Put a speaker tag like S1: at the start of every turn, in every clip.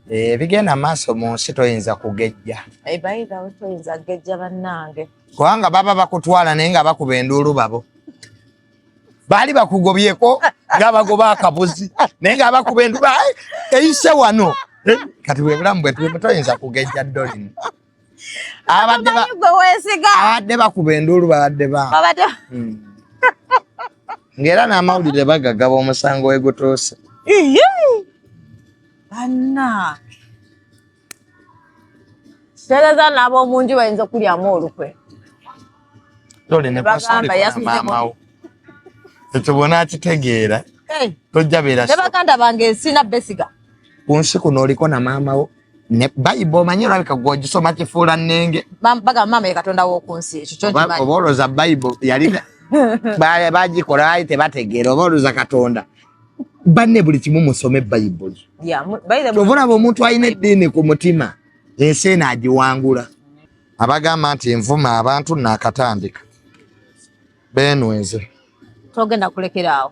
S1: ebigenda eh, maaso mu nsi toyinza kugejja eh,
S2: toyinza kugejja bannange kubanga baba
S1: bakutwala naye nga bakuba enduulu babo baali bakugobyeko nga bagoba akabuzi naye nga bakuba enduulu eyise wano eh, kati bwebulamu bwetulimu toyinza kugejja dolin abadde ba gwe wesiga abadde bakuba enduulu babadde ba babadde hmm. ngera na mawulire bagagaba omusango we gutuuse iye
S2: anna sereza nabo omunju bayinza okulyamu olukwe
S1: tole ne pastor mamawo ekyo bona akitegeera tojja beera ne baganda bange
S2: sina besiga ku nsi kuno
S1: oliko na maama wo ne bayibo omanyi olabika gwe ogisoma kifuula nnenge bagamba maama ye katonda
S2: w'oku nsi ekyo kyo nkimanyi oba olowooza bayibo
S1: yali bagikola baali tebategeera oba olowooza katonda banne buli kimu musome bayibuli kyova olaba omuntu alina eddiini ku mutima ensi eno agiwangula abagamba nti nvuma abantu nakatandika benweze togenda kulekera
S2: awo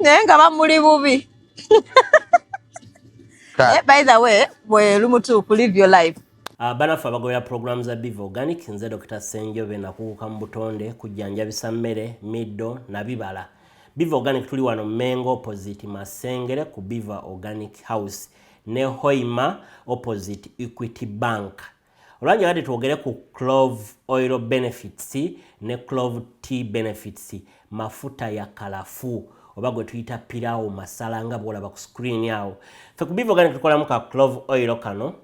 S2: naye nga bamuli bubi eh, by the way bwe lumutuufu live your life Uh, ah, banaffe abagobera
S3: pulogulaamu za biva organic nze dr senjobe nakuguka mu butonde kujjanjabisa mmere middo na bibala biva organic tuli wano mengo opposite masengere ku biva organic house ne hoima opposite equity bank olwanja bade twogere ku clove oil benefits ne clove t benefits mafuta ya kalafu oba gwe tuyita pirawo masala nga bwolaba ku screen awo fe kubivoga ne tukolamu ka clove oil kano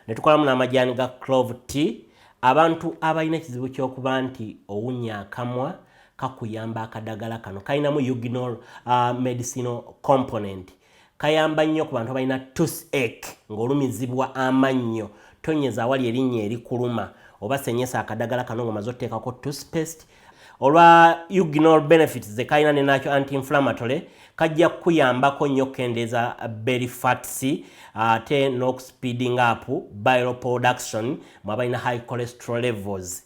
S3: ne tukolamu n'amajaani ga clove t abantu abalina ekizibu ky'okuba nti owunya akamwa kakuyamba akadagala kano kalinamu uginal uh, medicinal component Kayamba nnyo ku bantu abalina toothache ng'olumizibwa amannyo. Tonnyeza awali erinnya erikuluma oba senyesa akadagala kano ng'omaze oteekako toothpaste. Olwa ugnol benefits ze kalina ne nakyo anti-inflammatory kajja kukuyambako nnyo okukendeeza belly fats ate n'okusipiidinga apu bile production mu abalina high cholesterol levels.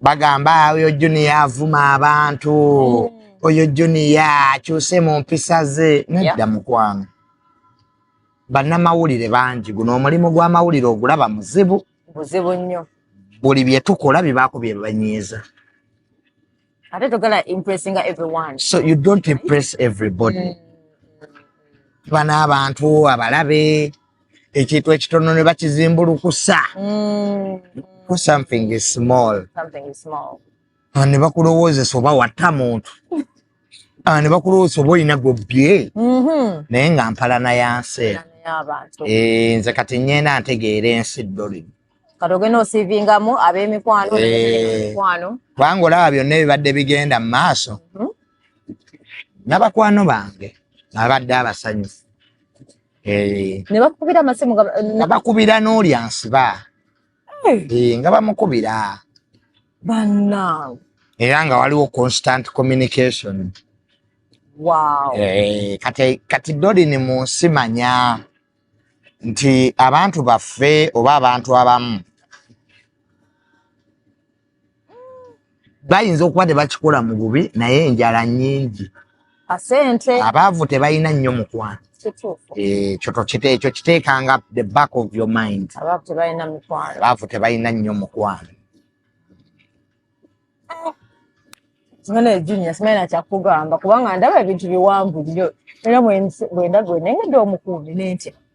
S1: bagamba oyo juniya avuma abantu mm. oyo juniya akyuse mu mpisa ze nedda mukwano bannamawulire bangi guno omulimu gw'amawulire ogulaba muzibu buzibu nnyo
S2: buli bye
S1: tukola bibaako bye banyiiza
S2: ate togala impressinga everyone so you don't impress
S1: everybody mm. bana abantu abalabe ekintu ekitono ne bakizimbulukusa mm. something is small
S2: ah, ne
S1: bakulowoozesa oba watta muntu ah, ne bakulowoozesa oba olina gobbye mm-hmm. naye nga mpalana ya nsi eh, nze kati nyenda ntegeera ensi ddolino kati ogenda
S2: osiivingamu ab'emikwano eh. kubanga olaba
S1: byonna ebibadde bigenda mu maaso mm-hmm. nabakwano bange abadde abasanyufu eh. ne
S2: bakubira amasimu
S1: nga
S2: bakubira n'oli
S1: ansiba eh, nga bamukubira
S2: banange era nga
S1: waliwo constant communication
S2: wow. eh, kati,
S1: kati dolini mu nsi manya nti abantu baffe oba abantu abamu bayinza okuba tebakikola mu bubi naye enjala nyingi asente
S2: abaavu tebalina
S1: nnyo mukwano ekyo tokite ekyo kiteekanga the back of your mind abaavu
S2: tebalina nnyo
S1: mukwano
S2: Ngana ejinya simaye na chakugamba kubanga ndaba ebintu biwanvu nnyo era bwe ndagwe nengedde omukuumi nentya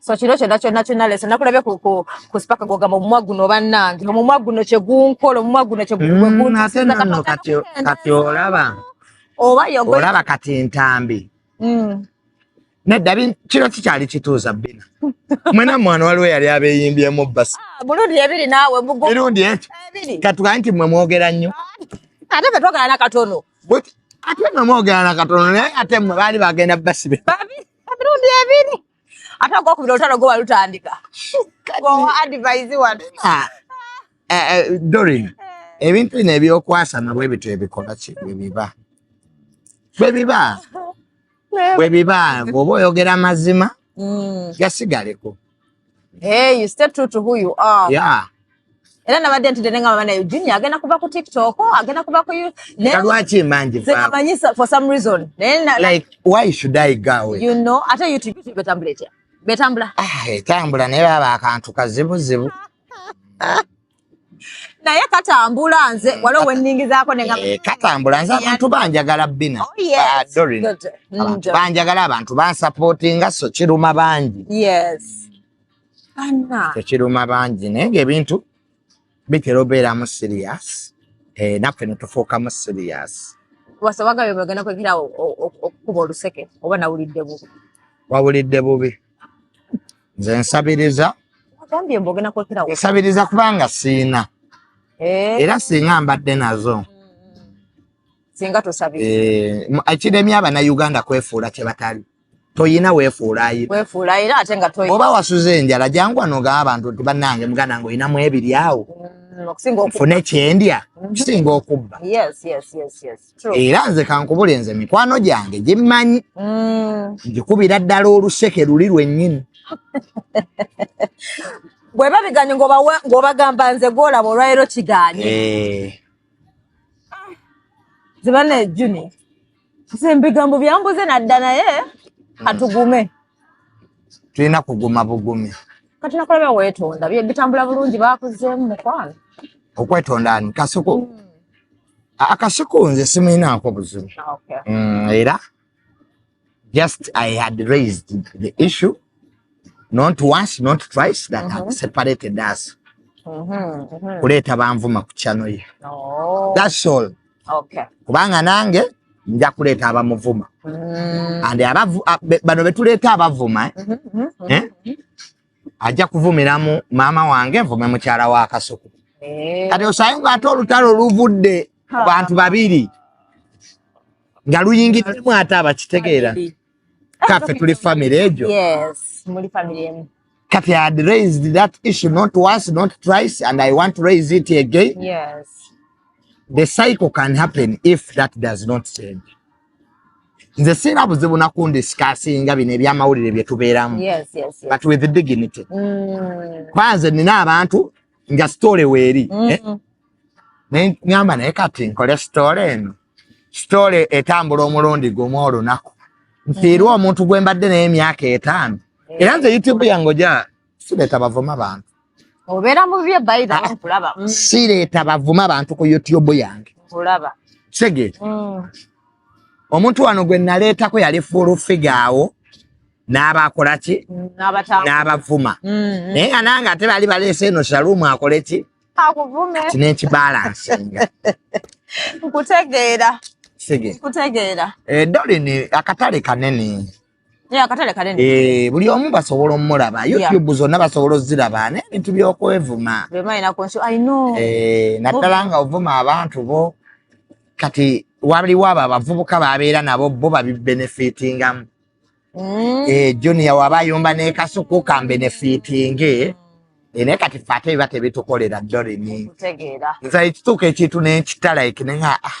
S1: so
S2: kino kyonna kyonna kyonna leso nakulabye ku ku ku sipaka gwogamba omumwa guno bannange omumwa guno kye gunkola omumwa guno kye mm, ate nono
S1: kati olaba oba olaba kati entambi mm. nedda kino kikyali kituuza bina mwena mwana waliwo yali abeyimbyemu basi ah, mirundi ebiri naawe
S2: mirundi ekyo
S1: katugaa nti mwe mwogera nnyo ah, ate fe twogera
S2: nakatono ate
S1: mwe mwogera nakatono naye ate mwe baali bagenda basibe emirundi
S2: ebiri ate ogwokubira olutalo gwo walutandika gwowa advise wano ah, eh, eh, dorin
S1: eh. ebintu bino ebyokwasama bwe bityo ebikola ki bwe biba bwe biba bwe biba bwoba oyogera amazima mm. gasigaleko
S2: Hey, you stay true to who you are. Yeah.
S1: Era nabadde
S2: ntidde ne ngamba naye Junior agenda kuva ku TikTok, agenda kuva ku you. Naye lwaki manje
S1: fa? Zimanyisa for some
S2: reason. Naye na like why
S1: should I go? You know, ate YouTube
S2: YouTube betambula etya? Betambula. Ah, etambula
S1: naye baba akantu kazibu zibu.
S2: naye katambula nze waliwo wenningizaako ne eh, katambula nze abantu
S1: banjagala bina oh, ah, mm, banjagala abantu bansapootinga so kiruma bangi
S2: tekiruma bangi
S1: naye ngaebintu bitera obeeramu siriyasi eh, naffe netufuukamu siriyasi wasabaga byo
S2: bagenda kwekira okukuba oluseke oba nawulidde bubi wawulidde
S1: bubi nze nsabiriza
S2: nsabiriza kubanga
S1: siina eh. era singa mbadde nazo
S2: singa tosabiriza eh, ekiremye abanauganda
S1: kwefuula kyebatali toyina wefuulayiroba
S2: wasuza enjala
S1: jangu anogaa abantu nti banange muganda nga oyinamu ebiri awo mm, fune kyendya mm-hmm. kisinga okubba
S2: era nze kankubule
S1: nze mikwano gyange gimmanyi mm. ngikubira ddala oluseke luli lwennyini
S2: bwe babiganye ng'obagamba nze gwolaba olwaliro kiganye eh. zibana ejuni nze mbigambo byambuze nadda naye katugume
S1: tulina kuguma bugumi kati nakulaba
S2: weetonda bitambula bulungi bakuzeemu mukwano okwetonda
S1: ani kasuku mm. akasiko nze simuyinaako buzibu mm, era just i had raised the issue not once not twice that had mhm. separated us mhm, mhm. kuleeta banvuma ku chano ye oh. thats all kubanga nange nja kuleeta abamuvuma mm. and bano betuleeta abavuma eh? Eh? ajja kuvumiramu maama wange nvume mukyala wa kasuku eh. kati osaye nga ate olutalo luvudde ku bantu babiri nga luyingiddemu ate abakitegeera kaffe tuli famiry egyo
S2: kati had
S1: raised that issue not once not twice and i want to raise it again yes. the cycle can happen if that does not change nze singa buzibu nakundisikasinga bino ebyamawulire byetubeeramu but with
S2: dignity
S1: mm. kwanze nina abantu nga story weeri mm. eh? naye ngamba naye kati nkole story eno story etambula omulundi gumu olunaku nfiirwa mm. omuntu gwe mbadde naye emyaka etaano era nze youtube yange oja sireeta bavuma bantu obeera mu
S2: bye baida ah, nkulaba mm. sireeta bavuma
S1: bantu ku youtube yange nkulaba
S2: kitegeera
S1: mm. omuntu wano gwe naleetako yali fuulu figa awo n'abakola ki mm, n'abavuma mm-hmm. naye nga nange ate baali baleese eno shaluumu akole ki akuvume kino ekibalansinga nkutegeera
S2: nkutegeera eh, dolini
S1: akatale kanene
S2: Eh, buli omu basobola
S1: omulaba youtube zonna basobola oziraba nebintu byokwevuma
S2: eh, naddala nga
S1: ovuma abantu bo kati waliwo abo abavubuka babeera nabo bo babibenefitingamu mm. eh, junia waba ayumba nekasuku kambenefitinge mm. naye kati fe ate biba tebitukolera dorini nze
S2: ekituuka ekintu
S1: nenkita like nenga ah,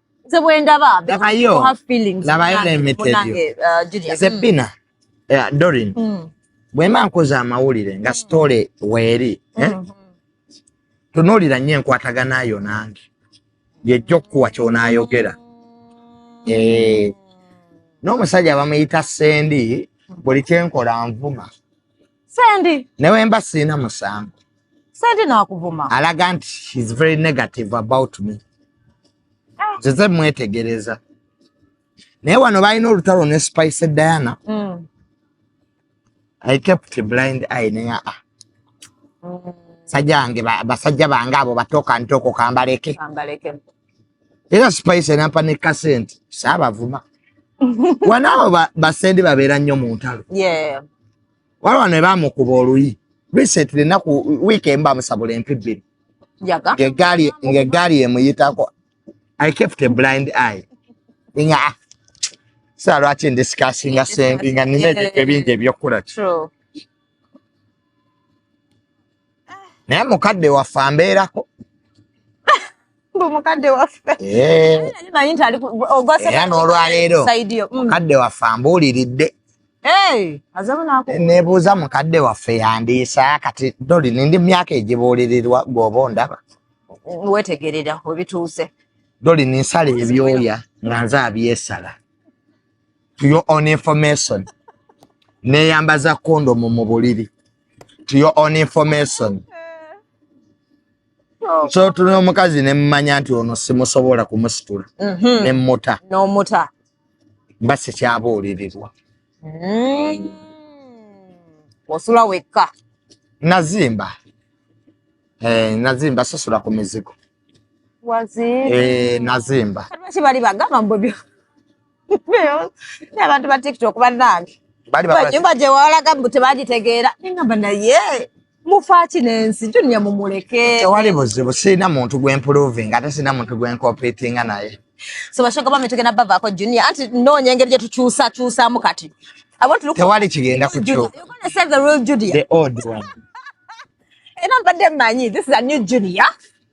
S2: nze bwendaba
S1: zebbina dorin bwemba nkoze amawulire nga sitole weeri eh? mm-hmm. tunuulira nnyo enkwatagana yo nange yejja okukuwa kyonaayogera eh. n'omusajja bamuyita sendi buli kyenkola nvuma Sendi.
S2: Newe mba sina
S1: musango. Sendi na
S2: wakuvuma. Alaga nti she's
S1: very negative about me. Ah. Zeze mwetegereza. Naye wano balina olutalo ne Spice Diana. Mm. I kept a blind eye naye ah. Mm. Sajange basajja bange abo batoka ntoko kambaleke. Kambaleke. Era Spice enampa ne kasenti. Saba vuma. Wanao ba, basendi babera nyo mu ntalo. Yeah. waliwo ne bamukuba oluyi recently enaku wiiki emu bamusabula empi bbiri ng'eggaali emuyitako i kept a blind eye nga ah, saa lwaki ndisikasinga sengi nga nina ebintu ebingi ebyokukola naye mukadde waffe ambeerako
S2: eh.
S1: era n'olwaleero mm. mukadde waffe ambuuliridde nebuuza mukadde waffe yandiisa kati doli nindi myaka egibuulirirwa gwoba ondaba wetegerera
S2: webituuse doli ninsala
S1: ebyoya nga nze abyesala to your own information neyambaza kondomu mu buliri to your own information oh. so tuli omukazi nemumanya nti ono simusobola kumusitula mm-hmm. nemuta nomuta
S2: mba
S1: sikyabuulirirwa mm.
S2: osula wekka nazimba
S1: eh, nazimba sisula ku mizigo eh, nazimba bali bagamba
S2: mbobyo abantu ba tiktok banange nyumba gyewalaga mbu tebagitegeera nengamba naye mufaaki nensi junia mumuleke tewali buzibu
S1: sirina muntu gwemproving ate sirina muntu gwenkopetinga naye so bashoga bame
S2: tugenda bavaako junia anti noonya engeri gyetukyusakyusamu kati tewali
S1: kigenda kukyuka
S2: era mbadde manyi this is a new junior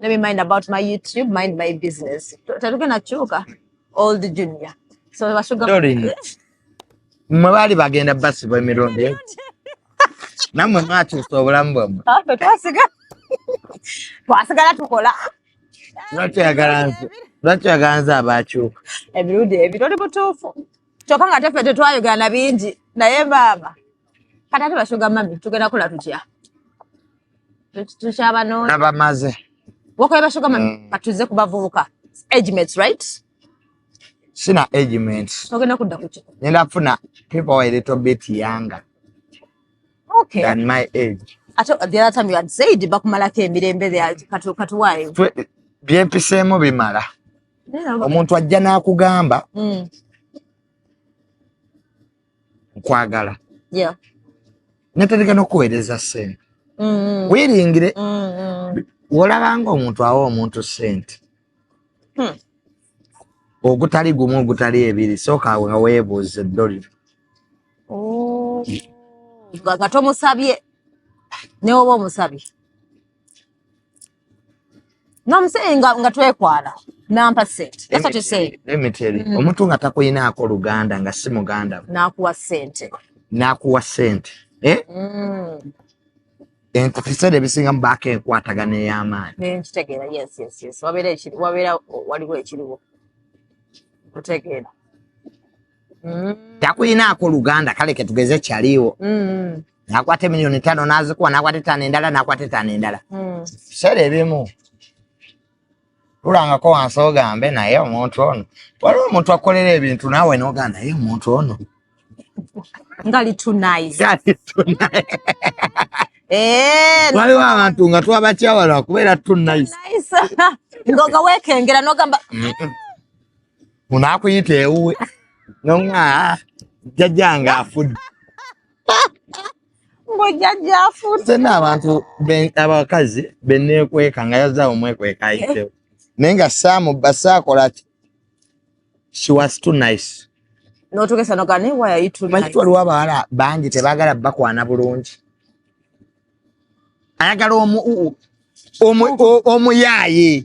S2: let me mind about my youtube mind my business tetugenda kyuka old junior so basuga
S1: mwe baali bagenda basibwa emirundi namwe mwakyusa obulamu bwamwe ah,
S2: twasigala tukola
S1: lwaki oyagala nze abaakyuka emirundi ebiri
S2: oli mutuufu kyokka nga tefe tetwayogana bingi naye maama kati ate bashoga mami tugenda kola tutya tukyabanoonya abamaze
S1: wakoye bashoga
S2: mami mm. katuze ku bavubuka agments right
S1: sina agments ogenda kudda kutya
S2: ngenda kufuna
S1: people a little bit younger okay. than my age ate the other time you had
S2: said bakumalako emirembe katuwayo
S1: byempiseemu bimala omuntu ajja n'akugamba mm. nkwagala yeah. natandika nokuweereza sente mm -hmm. wiringire mm -hmm. wolabanga omuntu awa omuntu sente hmm. ogutali gumu ogutali ebiri sooka nga weebuuza eddoliro
S2: oh. nga tomusabye newoba omusabye No, I'm saying nga, nga twekwala nampa sente. That's what you say. Let me tell you. Mm. Omuntu
S1: nga takulinaako Luganda nga si muganda. N'akuwa sente.
S2: N'akuwa
S1: sente. Eh? Mm. Ento ebiseera ebisinga mu baako enkwatagana ey'amaanyi. Nkitegeera, yes, yes,
S2: yes. Wabeera ekiri, wabeera waliwo ekiriwo. Nkutegeera.
S1: mm. takulinaako luganda kale ketugeze kyaliwo mm. nakwata emiliyoni tano nazikuwa nakwata etano endala nakwata etano endala mm. sera ebimu lulangako wansi ogambe naye omuntu ono waliwo omuntu akolera ebintu nawe noga naye omuntu ono
S2: eh,
S1: waliwo abantu nga twabakyawala kubeera tunaisenga
S2: wekengera nogamba
S1: unaakuyita ewuwe noŋa jjajja nga afudde
S2: mbu jjajja afudde sena abantu
S1: abakazi beneekweka nga yazza omwekweka ayitewo naye nga saamu basaakola ki she was too nice notugesa
S2: nogane why are you too nice waliwo abawala bangi
S1: tebagala bakwana bulungi ayagala omu omu omu yaaye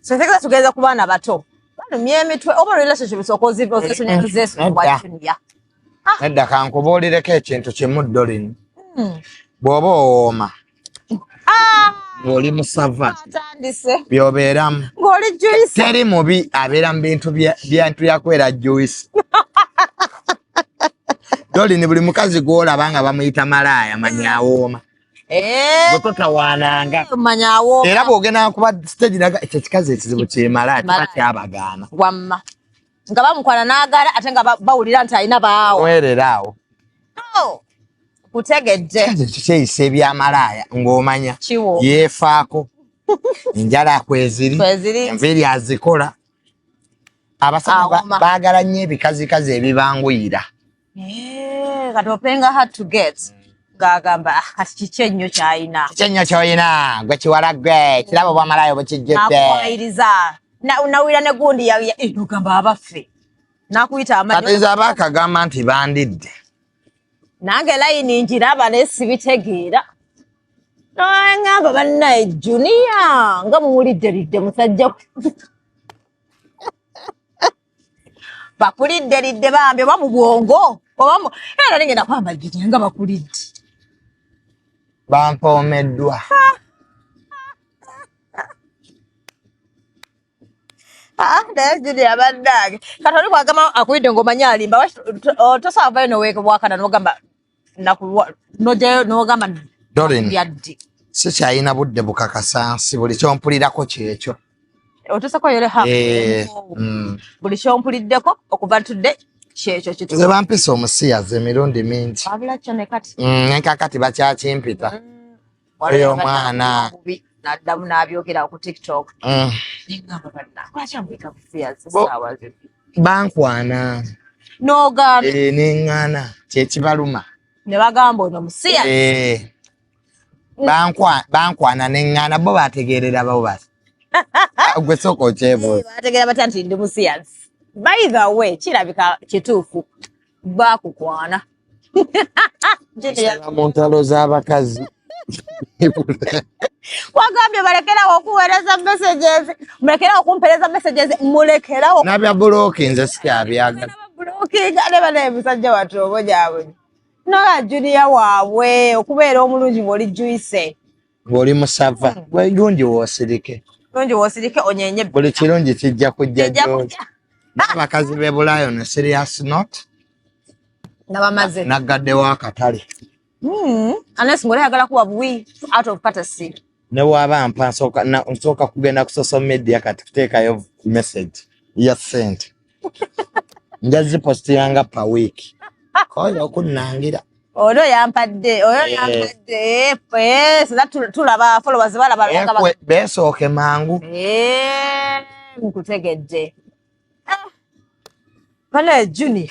S2: Senteka tugeza ku baana bato. Bano myemitwe oba relationship sokozi bo zesu ne zesu wa dunia. Ah. Nedda
S1: kankubuulireko ekintu kimu Dolin. Hmm. Bw'oba owooma ah. ng'oli musava by'obeeramu
S2: teri mubi
S1: abeera mu bintu byantu yakwera juice Dolin buli mukazi gw'olaba nga bamuyita malaaya manyi awooma. Eh. bwe totawaananga era
S2: bw'ogenda kuba
S1: siteegi naga ekyo kikazi ekizibu kyemala kiba kyabagaana wamma
S2: nga bamukwana n'agaala ate nga bawulira nti alina baawo mwerera awo
S1: oh,
S2: kutegedde ekyo kyeyisa
S1: ebyamalaaya ng'omanya yeefaako enjala kweziri enviiri azikola abasajja baagala nnyo ebikazikazi ebibanguyira
S2: Eh, kati openga hard to get ng'agamba "Ah, kati kiki ennyo ky'alina kiki ennyo ky'olina
S1: gwe kiwala gwe kirabo bwamalayo bukijjudde nakuwayiriza
S2: Na- nawulira ne gundi ya- ya- eh, nogamba abaffe nakuyita kati amanyo nze aba akagamba
S1: nti bandidde
S2: nange layini ngiraba naye sibitegeera nangamba bannaye juniya nga muwulidderidde musajja bakulidde lidde bambi oba mu bwongo oba mu era nali ngenda kwambagirira nga bakulidde
S1: bampoomeddwa
S2: Ah, naye juli abaddaage kati oli kwagamba akulidde ng'omanyi alimba Waki- to- to- tosaavayo noweka bwakana nogamba nojayo nogamba yaddi
S1: sikyalina budde bukakasa nsi buli kyompulirako kyekyo otusako
S2: yole ha eh, mm. buli kyompuliddeko okuva tudde kyekyo kituze bampisa omusiyazi
S1: emirundi mingi abula kyo nekati
S2: mm, nekakati
S1: bakyakimpita mm. eyo omwana naddamu
S2: n'abyogera ku tiktok mm. bankwana
S1: nogambye
S2: eh, neŋŋana
S1: kyekibaluma ne bagamba
S2: ono musiya eh,
S1: bankwana neŋŋana bo bategeerera bo basi gwe sooka okyebuuza bategeera batya nti ndi
S2: musiyazi by the way kirabika kituufu bakukwana
S1: nsala mu ntalo z'abakazi
S2: wagambye balekerawo okuweereza messages mulekerawo okumpereza messages mulekerawo nabya bulooki
S1: nze sikyabyagala bulookinga
S2: ne bana emisajja watu obo gyabwe nola juniya waabwe okubeera omulungi bwoli juise ng'oli
S1: musava lungi wosirike
S2: lungi
S1: wosirike onyenye buli
S2: kirungi
S1: kijja kujja gyoli n'abakazi b'e bulaaya ono serious not nga
S2: bamaze naggaddewo
S1: akatale hmm,
S2: unless ng'oli ayagala kuwa buwi out of courtesy ne waaba
S1: mpa nsooka kugenda ku social media kati kuteekayo message ya sente nja zipositira nga pa week koyo okunnangira oyo yampadde
S2: oyo eh. yampadde eh, eh, sina tulaba followers balaba besooke mangu
S1: nkutegedde
S2: ah. bana junior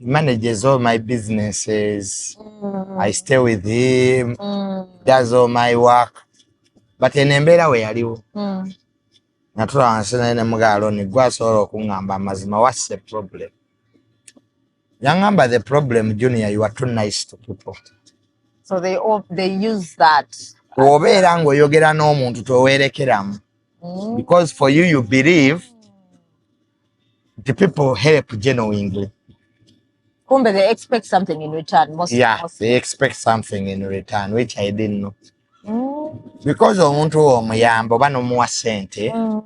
S1: manages all my businesses mm. i stay with him mm. does all my work but eno embeera we yaliwo mm. natula wansi naye ne mugaaloni gwe asobola okuŋŋamba amazima whats the problem yaŋŋamba the problem junior you are too nice to people so they,
S2: all, they use that wobeera
S1: ng'oyogera n'omuntu toweerekeramu mm. because for you you believe mm. the people help genuinely.
S2: Kumbe they expect something in return. Most, yeah, most. they expect
S1: something in return, which I didn't know. Mm. Because omuntu wo omuyamba oba nomuwa sente mm.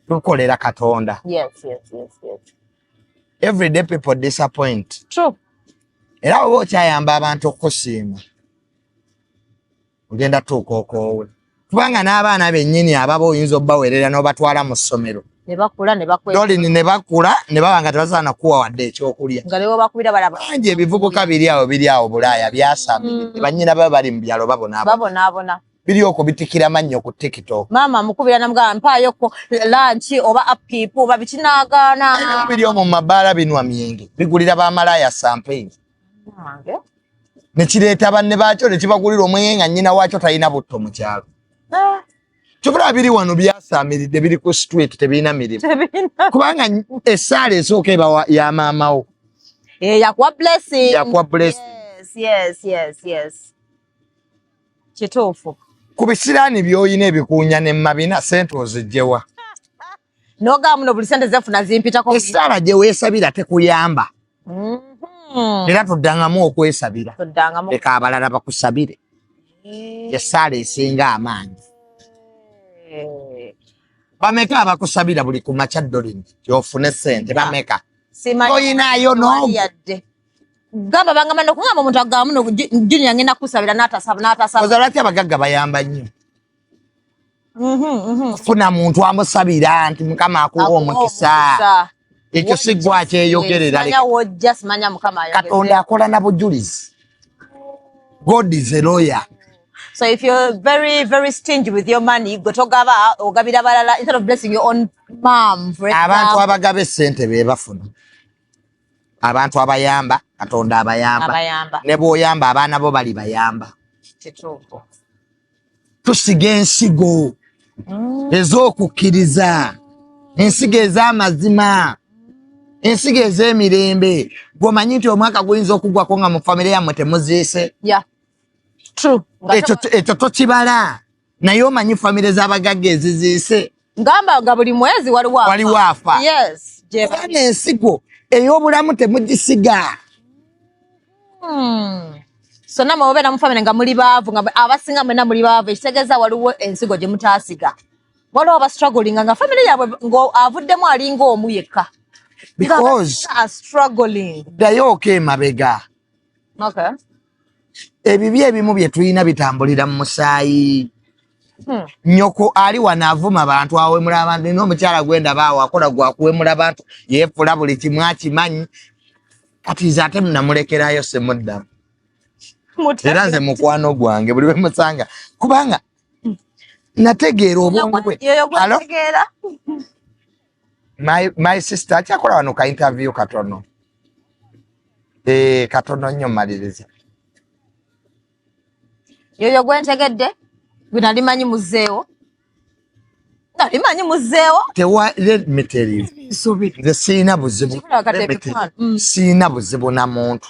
S1: tukolera Katonda. Yes, yes, yes, yes. Every day people disappoint. True.
S2: Era oba
S1: okyayamba abantu okusiima. ogenda tuuka okoowe kubanga n'abaana bennyini ababa oyinza obubaweerera n'obatwala mu ssomero
S2: dolini ne bakula
S1: ne baba nga tebasobola nakuwa wadde ekyokulya bangi
S2: ebivubuka biri
S1: awo biri awo bulaaya byasama mm. bannyina baba bali mu byalo babonaabona
S2: biri okwo bitikira
S1: mannyo ku tiktok maama mukubira namugamba
S2: mpaayoko lanki oba apipu oba bikinagaana biri omwo mu mabaala
S1: binwa myenge bigulira bamalaaya sampeyini ne kireeta banne baakyo ne kibagulira omwenge nga nnyina waakyo talina butto mu kyalo ah. kyobulaba biri wano byasaamiridde biri ku street tebirina mirimu kubanga essaala esooka ebawa ya maamawo eh, yakuwa
S2: blessing yakuwa blessing yes yes yes yes kituufu ku
S1: bisiraani by'olina ebikuunya ne mabina sente ozijjewa
S2: noga muno buli sente zefuna zimpitako esaala gye weesabira
S1: tekuyamba mhm. era tuddangamu okwesabira leka abalala bakusabire eh. esaala esinga amaanyi eh. bameka abakusabira buli ku makya dolini gyofune sente bameka toyinayo noyadde gamba bangamba nokugamba omuntu agamba muno junia ngenda kukusabira natasaba natasaba ozalwaki abagagga bayamba nnyo mm-hmm, mm-hmm. funa muntu amusabira nti mukama akuwa omukisa ekyo sigwa kyeyogererakatonda akola na bujulizi god is a lawyer So if
S2: you're very, very stingy with your money, go to Gava or Gabida Balala instead of blessing your own mom. For example. Abantu abagabe sente
S1: bebafuna. Abantu abayamba, katonda abayamba. Abayamba. Nebo oyamba, abana bo bali bayamba. Chituko. tusiga ensigo mm. ez'okukkiriza ensigo ez'amazima ensigo ez'emirembe gwomanyi nti omwaka guyinza okugwako nga mu famire yammwe temuziise
S2: ekyo
S1: tokibala naye omanyi famire z'abagagga eziziise ngamba nga buli
S2: mwezi waliwo waliwo afa yes
S1: jebana
S2: ensigo
S1: ey'obulamu temugisiga hmm.
S2: so namwe mubeera mu famire nga muli baavu nga abasinga mwena muli baavu ekitegeeza waliwo ensigo gye mutaasiga waliwo bastrugglinga nga famire yaabwe ng'avuddemu alinga omu yekka because
S1: are struggling
S2: dayo okay
S1: mabega okay ebibi ebimu bye tulina bitambulira mu musaayi hmm. nyoko ali wano avuma bantu awemula abantu nina omukyala gwendaba awo akola gwakuwemula bantu yefula buli kimu akimanyi kati nze ate namulekerayo semuddamu era nze mukwano gwange buli wemusanga kubanga hmm. nategeera obwongo bwe my, my sister akyakola wano ka interview katono eh, katono nnyo maliriza
S2: yoyo gwentegedde gwe nali manyi muzeewo nali manyi muzeewo tewa let me tell
S1: you nze siina buzibu mm. siina buzibu na muntu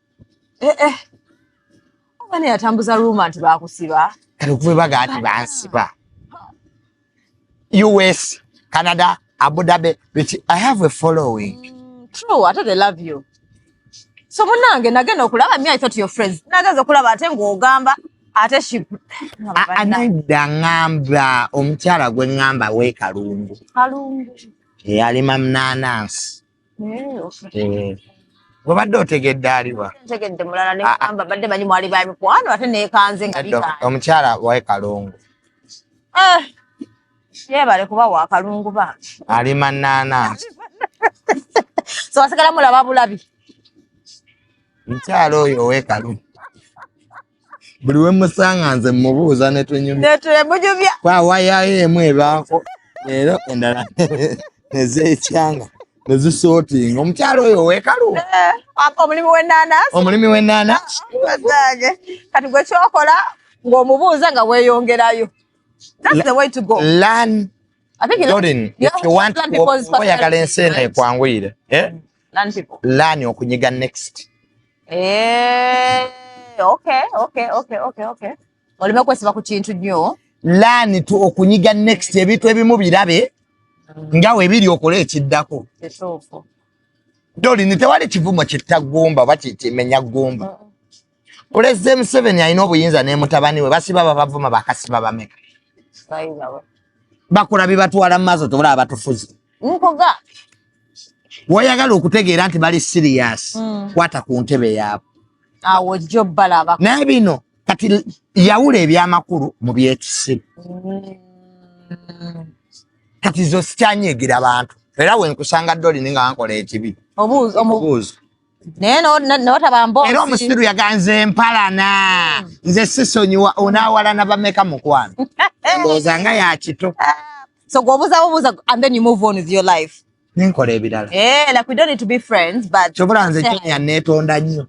S1: eh, eh.
S2: omwana yatambuza ruuma nti bakusiba kale okuva ebaga ati
S1: bansiba us canada abu dhabi but i have a following mm, true ate they love
S2: you so munange nagenda okulaba me i thought your friends nagenza okulaba ate ng'ogamba ate anayidda
S1: ngamba omukyala gwe ngamba we kalungu eyalima mnanansi Eh, okay. Eh, obadde otegedde aliwa ntegedde mulala ne Ah, ah.
S2: mpamba badde manyi mwali ba mikwano ate nekanze nga Nedda, bikaali omukyala wae kalungu Eh, yebale kuba wakalungu bambi ali
S1: manaanansi
S2: so wasigala mulaba bulabi mukyala
S1: oyo owe kalungu buli we musanga nze mubuuza ne tunyumya kwa wayayo emu ebaako leero endala nezeekyanga ne zisootinga omukyalo oyo wekalu eh, omulimi w'ennaanasi omulimi w'ennaanasi
S2: kati gwe kyokola ng'omubuuza nga weeyongerayo that's the way
S1: to go learn oyagala ensi eno ekwanguyire eh? Learn people. Learn okunyiga next. Eh,
S2: okay, okay, okay, okay, okay. Olime kwesiba ku kintu nnyo. Learn to
S1: okunyiga next ebintu ebimu birabe mm. nga webiri okola ekiddako. Kituufu. Doli ni tewali kivumo kitta gumba oba kimenya gumba. Mm. Pulezidenti Museveni alina obuyinza ne mutabani we basiba babavuma bakasiba bameka bakula bibatwala mu maaso tobulaba batufuzi woyagala okutegeera nti bali siriyasi mm. kwata ku ntebe yaabwe
S2: naye bino
S1: kati yawula ebyamakulu mu byekisiru mm. kati zo sikyanyigira bantu era wenkusanga doli ninga wankola ekibi obuuzo naye
S2: notaba mboozi era omusiru yaganze
S1: mpalana hmm. nze sisonyiwa onawalana bameka mukwano ndowooza nga yakito ah, so gwobuza
S2: bubuza and then you move on with your life nenkola ebirala
S1: eh, like we don't need to be
S2: friends but kyobula nze jeniya
S1: netonda nnyo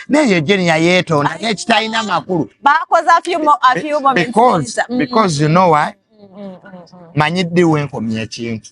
S1: naye jeniya yetonda naye kitalina makulu bakoze a few more
S2: a few moments because mm-hmm. because you know
S1: why mm-hmm. manyi ddi wenkomya ekintu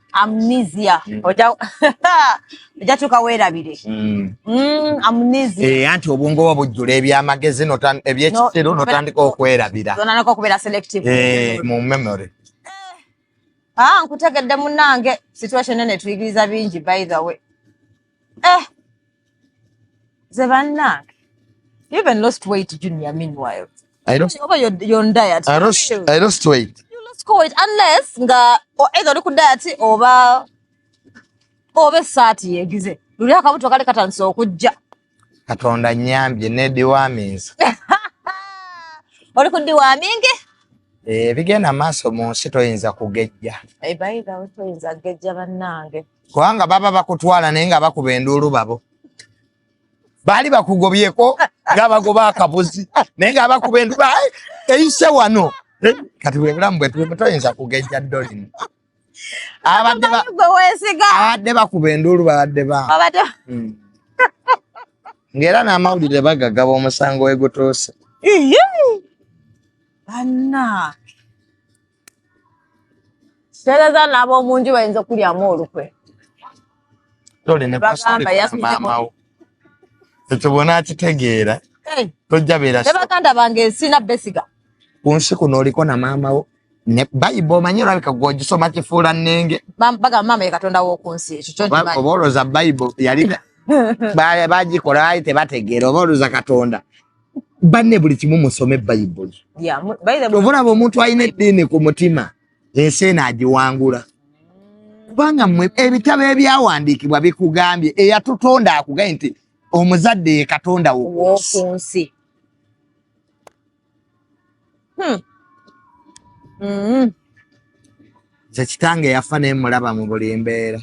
S1: amnesia mm. oja
S2: oja tuka wera bire mm. mm amnesia eh anti obungo wa bujule
S1: ebya magezi no tan ebye kitero no tandika okwera bira zona nako kubera selective eh mu memory eh. ah
S2: nkutegedde munange situation ene tuyigiriza bingi by the way eh nze bannange you even lost weight junior meanwhile I lost, over your, your diet I lost, I lost
S1: weight you lost weight unless
S2: nga either oli ku diet oba oba esaati yegize luli akabuto kali katandise okujja katonda
S1: nyambye ne dewaminza
S2: oli ku dewamingi ebigenda
S1: eh, maaso mu nsi toyinza kugejja eh, toyinza
S2: kugejja bannange kubanga baba
S1: bakutwala naye nga bakuba enduulu babo baali bakugobyeko nga bagoba akabuzi naye nga bakuba enduulu eyise wano eh, kati bwebulamu bwetulimu toyinza kugejja dolin abadde bakuba enduulu babadde ba hmm. ngaera n'amawulire bagagaba omusango wegutuuse
S2: anna tereza n'ab'omu nju bayinza okulyamu olukwe
S1: bagamba yasmaamawo ekyo bwona akitegeera tojja beera ne baganda bange
S2: sina besiga ku nsi kuno
S1: oliko na maama wo ne bayiba omanyi olabika gwe ogisoma kifuula nnenge bagamba maama ye katonda
S2: w'oku nsi ekyo kyonkimanyi oba olwoza bayibo
S1: yali bagikola baali tebategeera oba olwoza katonda banne buli kimu musome bayibuli ovolaba omuntu alina eddiini ku mutima ensi eno agiwangula kubanga mwe ebitabo ebyawandiikibwa bikugambye eyatutonda akugambye nti omuzadde ye katonda wokunsi hmm. mm-hmm. nze kitange yafa naye mulaba mu buli mbeera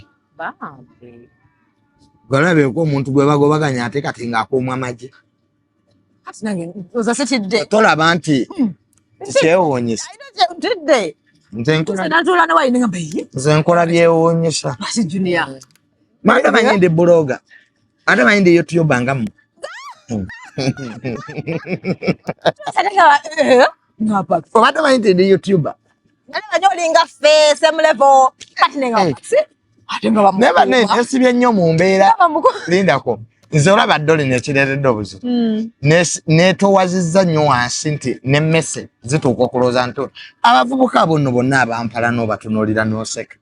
S1: gwalabeeko omuntu gwe bagobaganya ate kati ng'akuumwa magye
S2: tolaba nti
S1: hmm.
S2: kyewuunyisa nze
S1: nkola byewuunyisa
S2: manda manyi
S1: ndi buloga ate manyi ndi youtube ngamu obadde manyi nti ndi youtuber Nalaba nyo olinga
S2: ffe same level kati nenga hey. Eh. ate nga
S1: bamukuba. Neba ne esibye nnyo mu mbeera. Lindako. Nze olaba dole nekireetedde obuzito mm. netowazizza nnyo wansi nti ne mese zituuka okulowooza nti abavubuka bonno bonna abampala n'obatunuulira n'oseka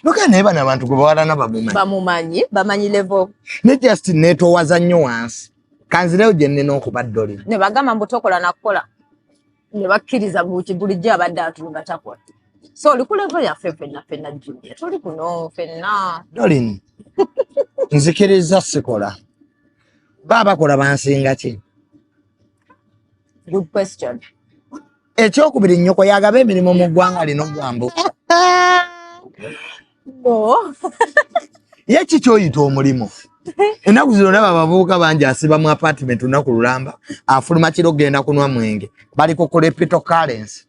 S1: Loka naye bano abantu gwe bawalana bamumanyi. Bamumanyi,
S2: bamanyi level. Ne just
S1: netowaza nnyo wansi. Kanzireyo gye nnina okuba ddoli. Ne bagamba mbu tokola
S2: na kukola. ne bakkiriza buti bulijjo abadde atunga takola so oli ku levo yaffe fenna fenna julia tuli kuno fenna dolin
S1: nzikiriza sikola ba bakola bansinga ki good
S2: question ekyokubiri
S1: nnyoko yagaba emirimu mu ggwanga lino gwambu no ye ki kyoyita omulimu ennaku zino olaba abavubuka bangi asiba mu apartment lunaku lulamba afuluma kiro kugenda kunwa mwenge bali ku kulepito currency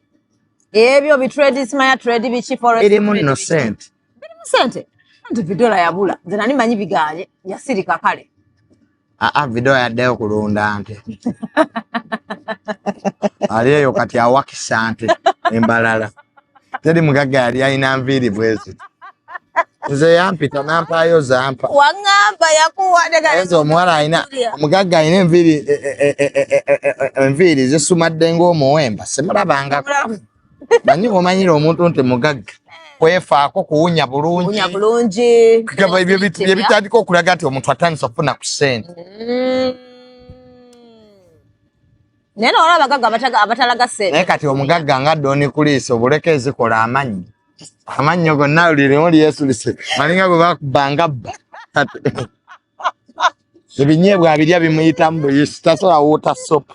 S1: ebyo
S2: bitrade simaya trade biki foreirimu no sente
S1: birimu sente
S2: anti vidola yabula nze nani manyi biganye yasirika kale aa ah, ah,
S1: video yaddeyo kulunda nte ali eyo kati awakisa nte embalala teri mugagga yali alina nviiri bwezi nze yampita nampaayo zampa waŋŋamba
S2: yakuwaezo omuwala alina
S1: omugagga alina enviiri e, e, e, enviiri zisumadde ng'omuwemba simulabangako manyi omanyira omuntu nti mugagga kwefaako kuwunya bulungi byebitandika okulaga nti omuntu atandisa okufuna ku sente mm.
S2: naye nawala abagagga abatalaga sente naye kati omugagga nga
S1: doni kuliisa obuleka ezikola amannyi amannyo gonna lirimu lyesulise malinga gwe bakubanga bba ebinyeebwa abirya bimuyitamu buyisi tasobola wuuta sopu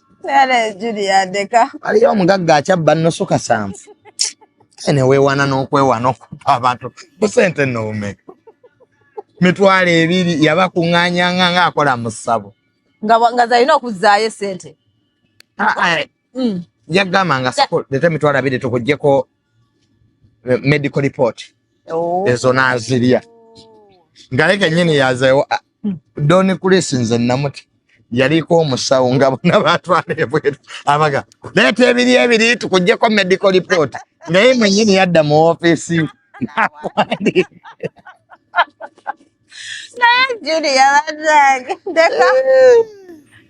S2: aliyo omugagga
S1: akyabba nnusu kasanvu kale neweewana n'okwewana okuba abantu busente noumeka mitwalo ebiri yabakuŋŋanyanga nga akola mu ssabo nga zalina
S2: okuzzaayo sente ah, ah, mm.
S1: yagamba nga sako leta emitwalo abiri tukugyeko eh, medical report oh. ezo nazirya ngaye kenyini yazewo ah, hmm. doni kulisi nze namuti yaliko omusawo nga bona batwala ebweru abaga leeta ebiri ebiri tukugyeko medical report naye mwenyini yadda mu ofisi
S2: naye judi yabanange ndeka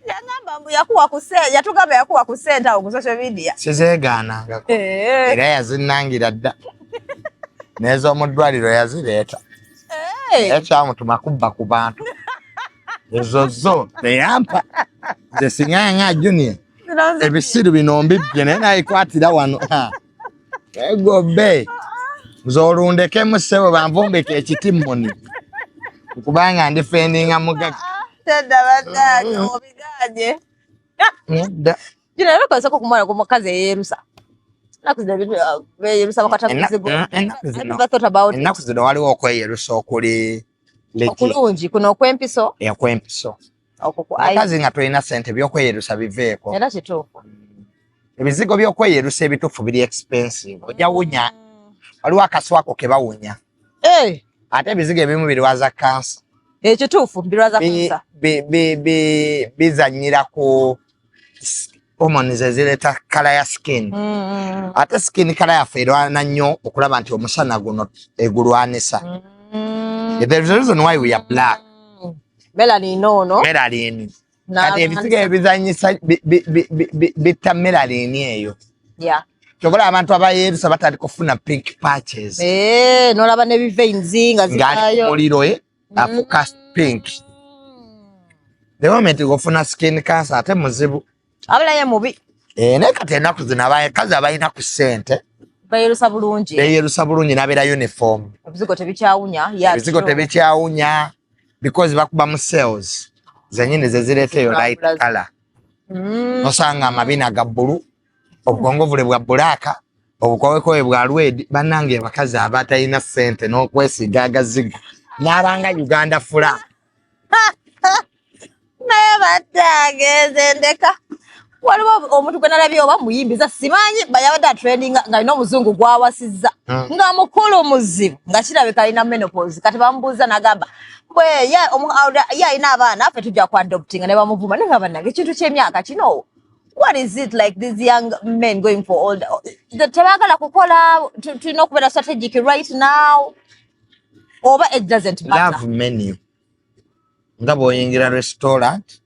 S2: yagamba mbu yakuwa ku sente yatugamba yakuwa ku sente awo ku social media sizeegaanangako
S1: eh. era yazinnangira dda n'ez'omu ddwaliro yazireeta eh. ekyamutuma kubba ku bantu ezo zo teyampa nze sinyanga junior ebisiru bino mbibbye naye nayikwatira wano egobe nze olundekemu ssebo banvumbika ekiti muni kubanga ndi fendinga mugaga tedda
S2: bataata mm. obiganye
S1: nedda kino ebikozesa
S2: okumwana ku mukazi eyerusa
S1: ennaku zino waliwo okweyerusa okuli okulungi
S2: kuno okwempiso okwempiso
S1: abakazi nga tolina sente byokweyerusa biveeko era kituufu
S2: ebizigo
S1: byokweyerusa ebituufu biri expensive ojja wunya waliwo akaswako kebawunya eh! ate ebizigo ebimu birwaza kansa ekituufu
S2: birwaza kansa bizanyira
S1: ku hormones ezireeta kala ya skin mm, mm. ate skin kala yaffe erwana nnyo okulaba nti omusana guno egulwanisa mm. the reason why we are black melanin
S2: ono melanin
S1: kati ebisiga ebizanyisa bitta melanin eyo
S2: kyobola abantu
S1: abayerusa batandika okufuna pink patches eh, nolaba ne
S2: bivainzi nga zikayo muliro eh?
S1: afuka pink the
S2: moment
S1: gofuna skin cancer
S2: ate
S1: muzibu abula
S2: ye mubi
S1: eh ne kati enaku zina baye kazi abayina ku sente bayerusa bulungi bayerusa bulungi nabera uniform bizigo tebikyawunya
S2: ya bizigo tebikyawunya
S1: because bakuba mu sales zenyine zezireteyo light color mm. osanga amabina ga bulu obukongovule bwa bulaaka obukowekowe bwa lwedi banange abakazi abatalina sente n'okwesiga agazigo n'abanga uganda fula
S2: naye batange nze ndeka waliwo omuntu gwe nalabye oba muyimbiza simanyi bayabadde atrendinga ng'alina omuzungu gwawasizza hmm. nga mukulu muzibu nga kirabika alina menopause kati bamubuuza nagamba bwe ye alina abaana ffe tujja ku adoptinga ne bamuvuma naye nga banange ekintu ky'emyaka kinoowo what is it like these young men going for all the tebagala kukola tulina okubeera strategic right now oba it doesn't matter love menu
S1: nga bwoyingira restaurant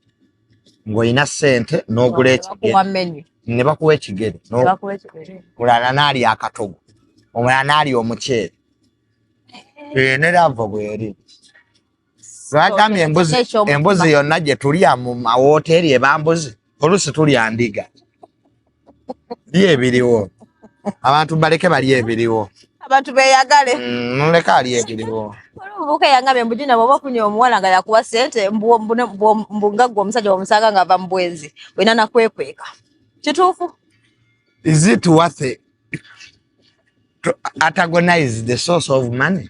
S1: ng'olina sente n'ogula ekigere ne bakuwa ekigere mulala naali akatogo omulala naali omuceere eh. eyo ne lava bweri Lwagambye embuzi embuzi yonna gye tulya mu mawooteeri eba mbuzi, oluusi tulya ndiga. Byo ebiriwo abantu baleke bali ebiriwo abantu beyagale
S2: noleka mm, ali
S1: ebiriwo olubuka yangambye
S2: mbu jina bwoba ofunye omuwala nga yakuwa sente mbu nga gwe omusajja wamusanga nga ava mu bwenzi olina nakwekweka kituufu
S1: is it worth it to antagonize the source of money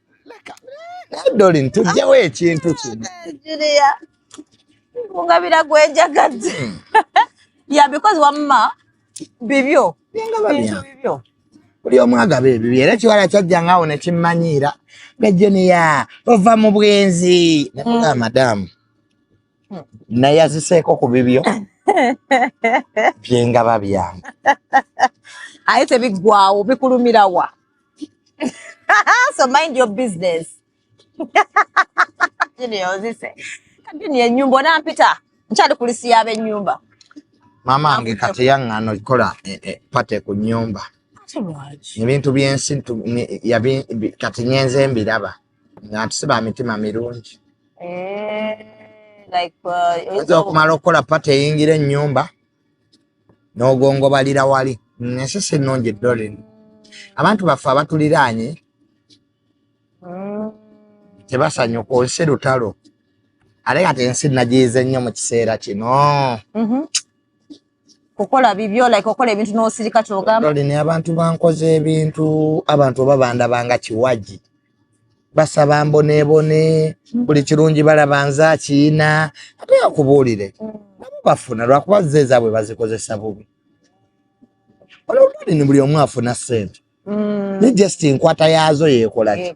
S1: dolin tujjawo ekintu kino
S2: kungabira gwejagadde hmm. ya because wamma bibyo bibyo buli omu
S1: agaba ebibi era ekiwala kyajja ngaawo nekimmanyiira nga juniya ova mu bwenzi nakuga hmm. madamu hmm. naye aziseeko ku bibyo byengaba byange
S2: aye tebiggwawo bikulumirawa so mind your business junior ozise junior enyumba onampita nkyali kulisi y'abenyumba maama
S1: wange kati yaŋŋana okikola eh, eh, pate ku nyumba ebintu byensi kati nyenze mbiraba nga ntusiba mitima mirungi eh, uh, oyinza okumala okukola pate eyingira enyumba n'ogongobalira wali ensi si nnungi dorin abantu baffe abatuliraanye tebasanyuka ku nsi lutalo ate kati ensi nagiyize nnyo mu kiseera kino mhm.
S2: kukola bibyo like okola ebintu n'osirika kyogambaolina abantu bankoze
S1: ebintu abantu oba bandabanga kiwagi basaba mbonebone mm. buli kirungi balaba nze akiyina ate akubuulire mm. nabo bafuna lwakuba ze ezaabwe bazikozesa bubi olwolwalini buli omu afuna sente mm. ne just enkwata yaazo yekolaki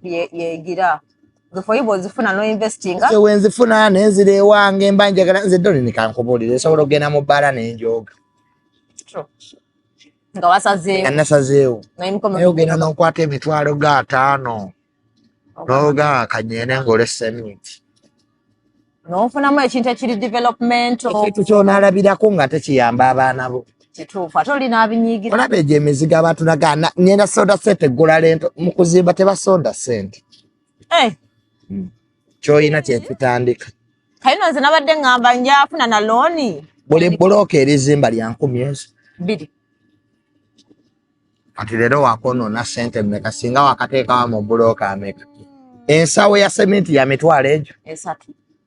S2: wenzifuna
S1: nenzira ewange mba njagala nze doni nikankubuulire esobola okugenda mu bbaala nenjooga
S2: nga wasazeewo nasazeewo
S1: naye ogenda nokwata emitwalo ga ataano noga kanyene ngaolesa emiti
S2: nofunamu ekintu ekiri developmentekintu kyonalabirako
S1: nga tekiyamba abaana bo kituufu ate olina
S2: abinyigira olaba egyo emizigo
S1: abatulaga ngenda sonda sente eggula lento mu kuzimba tebasonda sente eh. hmm. kyoyina kyekitandika kayino nze
S2: nabadde ngamba njafuna na looni buli bulooka
S1: erizimba lya nkumi ezo bbiri kati leero wakonoona sente meka singa wakateekawa mu bulooka ameka ensawo ya sementi ya mitwalo egyo esatu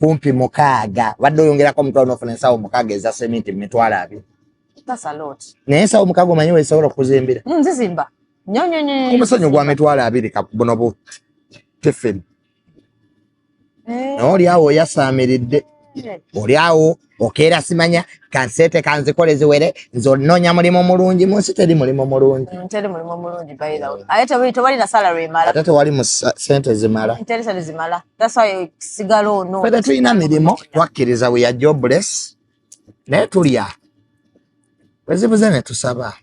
S2: kumpi
S1: mukaaga wadde oyongerako omutwalo nofuna
S2: ensawo
S1: mukaaga eza seminti mumitwalo abiri
S2: naye ensawo mukaaga omanyi
S1: wezisobola okuzimbira mm, nzizimba
S2: omusenyu gwa mitwalo
S1: abiri buno bu tifini eh. naye oli awo oyasaamiridde eh. oli awo okeera simanya kansete kanzikole ziwere nze ononya mulimu mulungi munsi teri mulimu mulungi mm, teri mulimu mulungi
S2: baira mm. aye tewali tewali na salary emala ate tewali mu
S1: sente zimala mm, teri sente zimala
S2: that's why sigala ono fede tulina mirimo
S1: twakkiriza we are jobless naye tulya wezibuze ne tusaba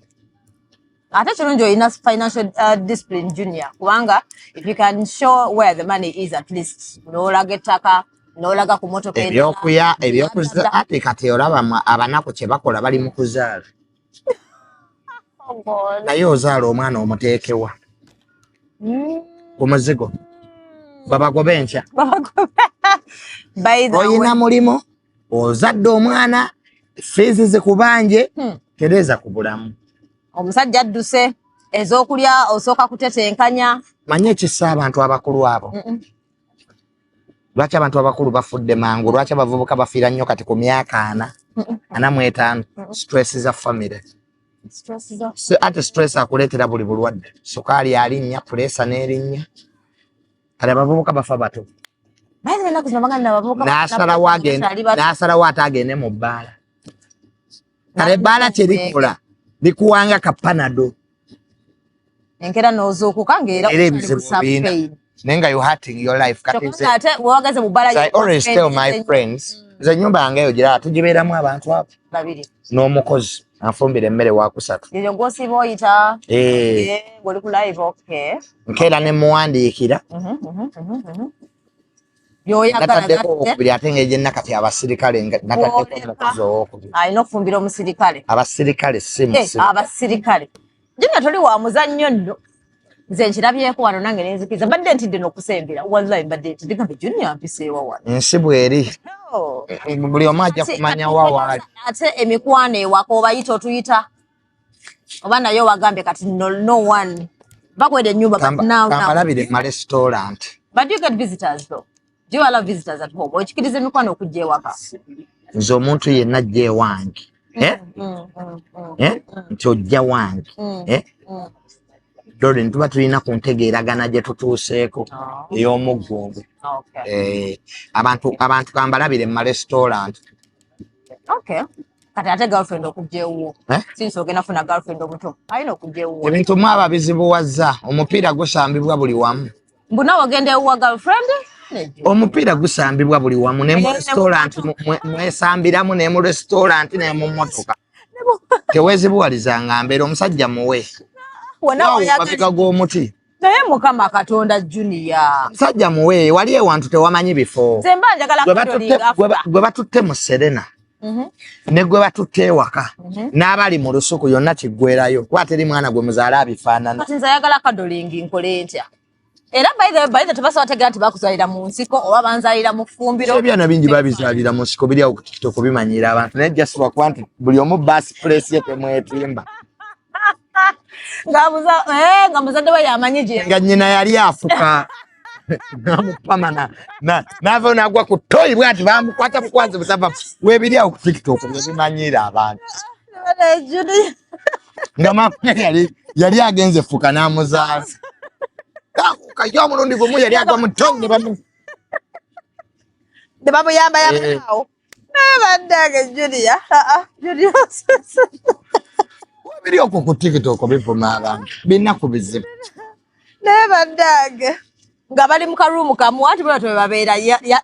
S2: ate kirungi olina financial uh, discipline junior kubanga if you can show where the money is at least nolaga ettaka nolaga ku motoka ebyokuya ebyokuza
S1: ate kati olaba abanaku kyebakola bali mu kuzaala oh naye ozaala omwana omuteekewa mm. ku muzigo babagobe enkya olina mulimu ozadde omwana fiizi zikubanje hmm. tereeza ku bulamu omusajja
S2: adduse ezokulya osooka kutetenkanya manye ekisa
S1: abantu abakulu abo mm -mm. lwaki abantu abakulu bafudde mangu lwaki abavubuka bafiira nnyo kati ku myaka ana ana mu etaano stress za famire ate stress akuleetera buli bulwadde sukaali alinnya puleesa n'erinnya kale abavubuka bafa bato nasalawo ate agende mu bbaala kale ebbaala kyerikola likuwanga kapanado
S2: enkera nozuukuka ngaera ebizibu biina
S1: naye nga you hurting your life katiate wewagaze
S2: mu bbaala i always tell my
S1: friends nze enyumba yange eyo giraba tugibeeramu abantu abo n'omukozi anfumbira emmere wakusatu eyo gwosiiba oyita
S2: eh. eh, ngoli ku live okay nkeera ne
S1: muwandiikira mhm, mhm, mhm, yoyagaokubiri ate nga egyenna kati abasirikale nataddeko omukozi owokubiri alina okufumbira omusirikale
S2: abasirikale
S1: simuabasirikale
S2: eh, Junior toli wa muzannyo nno nze nkirabyeko wano nange nenzikiza mbadde ntidde nokusembera wallahi mbadde ntidde gambe junior mpiseewa wano nsi bweri
S1: buli omu ajja kumanya wawaali ate emikwano
S2: ewaka obayita otuyita oba naye owagambye kati no one bakwede enyumba kamalabi de ma
S1: restaurant but you get
S2: visitors though Do you allow visitors at home? Okikiriza emikwano okujja ewaka? Nze omuntu
S1: yenna ajja ewange mm, eh? mm, mm, eh? nti ojja wange eh? dore nituba tulina ku ntegeeragana gye tutuuseeko oh. ey'omuggungu eh, abantu abantu kambalabire mu marestaurant
S2: kati ate girlfriend okujja ewuwo eh? sinsi ogenda funa girlfriend omuto alina okujja ewuwo ebintu mwaba bizibuwazza
S1: omupiira gusambibwa buli wamu mbu nawe ogenda
S2: ewuwa girlfriend omupiira
S1: gusambibwa buli wamu ne mu restaurant mwesambiramu ne mu restaurant ne mu motoka tewezibuwaliza nga mbeera omusajja muwe mabega g'omuti naye mukama
S2: katonda junior omusajja muwe
S1: wali ewantu tewamanyi bifo
S2: gwe batutte
S1: mu serena Mhm. ne gwe batutte ewaka mhm. n'abali mu lusuku yonna kiggwerayo kuba teri mwana gwe muzaala abifaanana nze ayagala kadolingi
S2: nkole ntya era baithe tebasobola tegera nti bakuzalira mu nsiko oba banzalira mu ffumbiro ebyana bingi babizalira
S1: mu nsiko biri awo ku tiktok bimanyiira abantu naye just lwakuba nti buli omu baasi pulesi ye temwetimba
S2: Eh, nga muzadde we yamanyi gye nga nyina yali afuka
S1: namupamana nava nagwa ku toyi bwati bamukwata bukwazi busava webiri awo ku tiktok byebimanyiira abantu nga mama yali yali agenze fuka namuzaala kayo omulundi gumu yali agwa mu toyi ne bamuyambayamba
S2: eh. awo bannange julia julia
S1: biri okwo ku tiktok bivuma abantu binaku bizibu naye
S2: bannange nga bali mu karuumu kamu anti bona twebabeera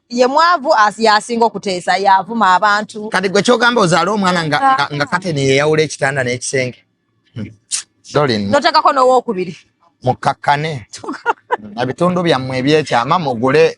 S2: ye mwavu yasinga okuteesa yavuma abantu kati gwe kyogamba ozaala
S1: omwana nga ah. kateni yeyawula ekitanda n'ekisenge hmm. dolin notekako
S2: nowokubiri mukkakkane
S1: ebitundu byammwe ebyekyama mugule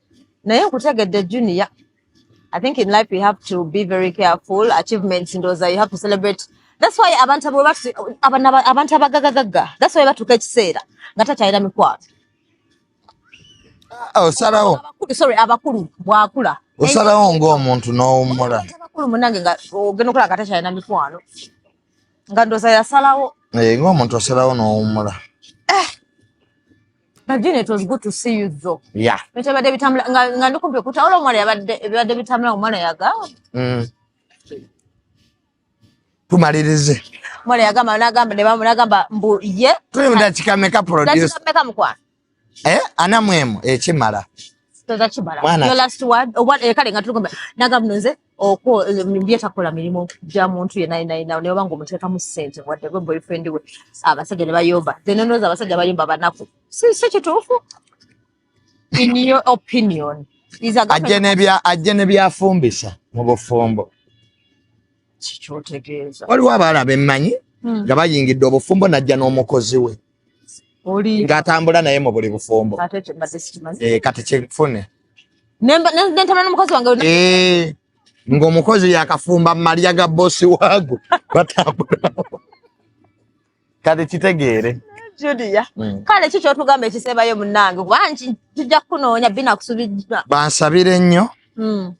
S2: naye nkutegedde junior i think in life you have to be very careful achievements ndoza you have to celebrate that's why abantu abo batu- abana- abantu abagagagaga that's why batuuka ekiseera nga takyalina mikwano
S1: Ah, osalawo
S2: Abakulu, sorry abakulu bwakula Naye
S1: osalawo ng'omuntu n'owummula abantu abakulu munange nga
S2: ogenda okulaba nga takyalina mikwano nga ndoza yasalawo Eh, ng'omuntu osalawo
S1: n'owummula
S2: Nadine, it was good to see you though. Yeah. Bitabadde
S1: bitambula nga
S2: nga ndikumpi okutawula omwana yabadde ebibadde bitambula omwana yaga. Mm.
S1: Tumalirize. Omwana
S2: yagamba n'agamba ne bamu n'agamba mbu ye. Tuli mu dakika meka
S1: produce. Dakika meka mukwana.
S2: Eh, ana
S1: mwemu ekimala. Eh, Toza
S2: kimala. Your last word. Owa oh, ekale eh, nga tulikumpi. Nagamba nze okwo bye takola mirimu gya muntu yenna yenna yenna naye oba ng'omuteekamu ssente wadde gwe boyfriend we abasajja ne bayomba zenenooza abasajja bayomba banaku si si kituufu in your opinion is a ajje girlfriend nebya
S1: ajje nebyafumbisa mu bufumbo kikyotegeeza
S2: waliwo abaala bemmanyi
S1: Hmm. nga bayingidde obufumbo najja n'omukozi we oli ngatambula naye mu buli bufumbo eh, kati kyefune
S2: nentambula n'omukozi wange eh, ng'omukozi
S1: yakafumba malya ga bosi waago batambula kati kitegeere Julia
S2: mm. kale ki kyotugamba ekisebayo munange wangi tujja kukunoonya binakusubijja bansabire nnyo
S1: mm.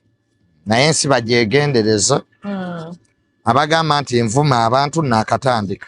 S1: naye ensi bagyegendereza mm. abagamba nti nvuma abantu nakatandika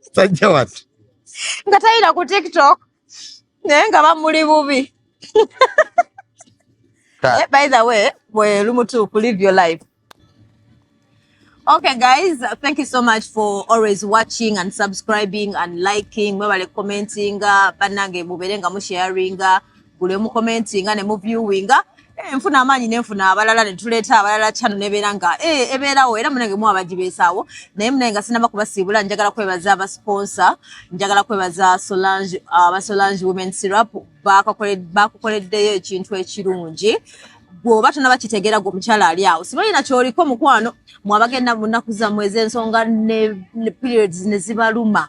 S1: Sajja watu. Nga tayina
S2: ku TikTok. Naye nga bamuli bubi. Eh, by the way, we lumutu ku live your life. Okay guys, thank you so much for always watching and subscribing and liking. Mwebale commenting, banange mubere nga mu sharing. gule mu commentinga ne mu viewinga eh, nfuna amaanyi nenfuna abalala netuleeta abalala kyano nebeera nga eh, ebeerawo era munange mu abagibeesaawo naye munange nga sinaba kubasiibula njagala kwebaza abasponsa njagala kwebaza solange abasolange women syrup bakukoleddeyo ekintu ekirungi bwoba tonaba kitegeera gwe omukyala ali awo sibalina kyoliko mukwano mwabagenda mu nnaku zammwe ez'ensonga ne periods ne zibaluma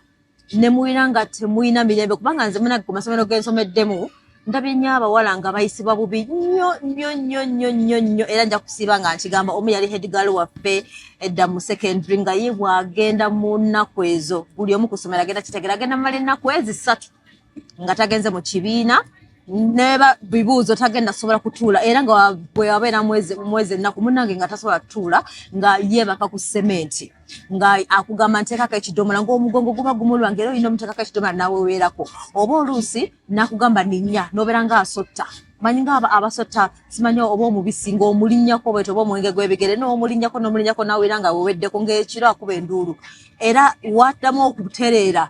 S2: ne muwina nga temulina mirembe kubanga nze munange ku masomero gensomeddemu ndabye nnyo abawala nga bayisibwa bubi nnyo nnyo nnyo nnyo nnyo nnyo era nja kusiiba nga nkigamba omu yali headgal waffe edda mu secondary nga ye bwagenda mu nnaku ezo buli omu ku ssomero agenda kitegera agenda mumala ennaku ezisatu nga tagenze mu kibiina neba bibuuzo tagenda sobola kutuula era nga bwewabeera mwezi ennaku munange nga tasobola kutuula nga yeebaka ku sementi nga akugamba nteekako ekidomola ngaomugongo guba gumulwa ngaera olina omuteekako ekidomola naweweerako oba oluusi nakugamba ninya nobeera nga asotta manyi nga abasotta simanyi oba omubisi ngaomulinyako bwete oba omwenge gwebigere nomulinyako nomulinyako naweera nga weweddeko ngaekiro akuba enduulu era waddamu okutereera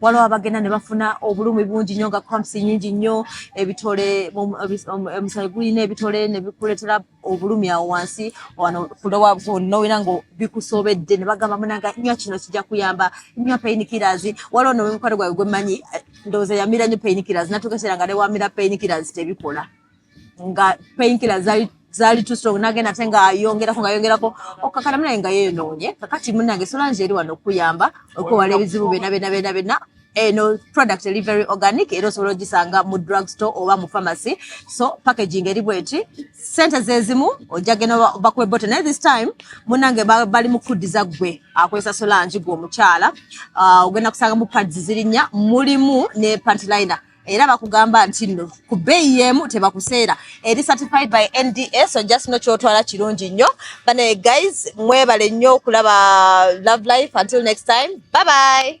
S2: waliwo abagenda ne bafuna obulumi bungi nnyo nga cramps nyingi nnyo ebitole omusaayi gulina ebitole ne bikuleetera obulumi awo wansi wano kulowa nowera nga bikusobedde ne bagamba munanga nywa kino kijja kuyamba nywa painkillers waliwo nomukwano gwawe gwe mmanyi ndowooza yamira nnyo painkillers natuuka ekiseera nga ne wamira painkillers tebikola nga painkiller zali zali too strong nagenda ate nga ayongerako nga ayongerako okakana munaye nga yeenoonye kakati munange solange eri wano okuyamba okwewala ebizibu byona byona byona byona eno eh, product eri very organic era osobola ogisanga mu drug store oba mu pharmacy so packaging eri bweti sente zezimu ojagena bakuwe bote naye this time munange bali mukuddiza gwe akozesa solangi gwe omukyala ah, ogenda kusanga mu pads zirinya mulimu ne pantliner era bakugamba nti no ku bbeeyi yeemu tebakuseera eri certified by nda so just no kyotwala kirungi nnyo banaye guys mwebale nnyo okulaba love life until next time bye bye